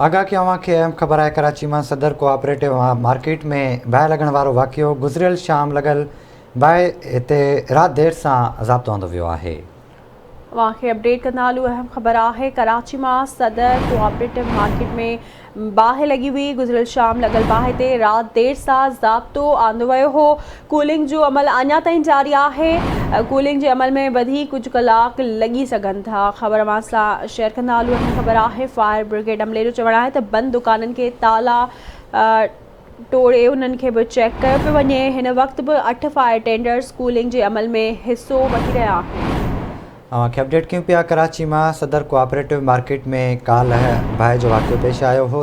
آگاهه ڪيان اوهان کي اهم خبر آهي ڪراچي مان صدر ڪو آپريٽو مارڪيٽ ۾ باهه لڳڻ وارو واقعو گذريل شام لڳل باهه تي رات دير سان ضابطو آندو ويو آهي. اوهان کي اپڊيٽ ڪندا هلون اهم خبر آهي ڪراچي مان صدر ڪو آپريٽو مارڪيٽ ۾ باهه لڳي هئي گذريل شام لڳل باهه تي رات دير سان ضابطو آندو ويو هو ڪولنگ جو عمل اڃا تائين جاري آهي، ڪولنگ جي عمل ۾ وڌيڪ ڪجهه ڪلاڪ لڳي سگهن ٿا، خبر اوهان سان شيئر ڪندا هلون اهڙي خبر آهي فائر برگيڊ عملي جو چوڻ آهي ته بند دڪانن کي تالا ٽوڙي انهن کي به چيڪ ڪيو پيو وڃي، هن وقت به اٺ فائر ٽينڊرز ڪولنگ جي عمل ۾ حصو وٺي رهيا آهن. اوهان کي اپڊيٽ ڪيون پيا ڪراچي مان صدر ڪوآپريٽو مارڪيٽ ۾ ڪالهه باهه جو واقعو پيش آيو هو،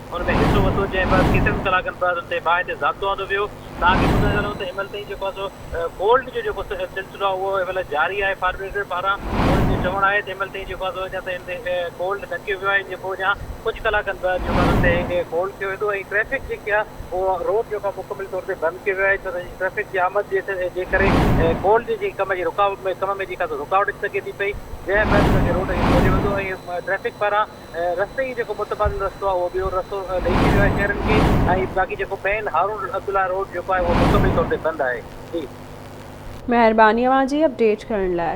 ان ۾ حصو ورتو جنهن بعد ڪيترن ئي ڪلاڪن بعد ان تي باهه تي ضابطو آندو ويو توهان کي ٻڌائي ٿا ڏيون ته هيمل تائين جيڪو سو ڪولڊ جو جيڪو سلسلو آهي اهو هيمل جاري آهي فائر بريگيڊ پاران انهن جو چوڻ آهي ته هيمل تائين جيڪو سو اڃا تائين ڪولڊ نه ڪيو ويو آهي جيڪو اڃا ڪجهه ڪلاڪن بعد جيڪو ان تي ڪولڊ ڪيو ويندو ۽ ٽريفڪ جيڪي آهي اهو روڊ جيڪو آهي مڪمل طور تي بند ڪيو ويو آهي ڇو ته ٽريفڪ جي آمد جي ڪري ڪولڊ جي ڪم جي رڪاوٽ ۾ ڪم ۾ جيڪا رڪاوٽ اچي سگهي ٿي پئي جنهن بعد ان کي روڊ کي کوليو ويندو ۽ ٽريفڪ پاران رستي جي جيڪو متبادل رستو آهي اهو ٻيو رستو ڏئي ڇڏيو آهي شهرين کي ۽ باقي جيڪو مين هارون عبدالله روڊ جيڪو آهي اهو مڪمل طور تي بند آهي جي. مهرباني اوهان جي اپڊيٽ ڪرڻ لاء.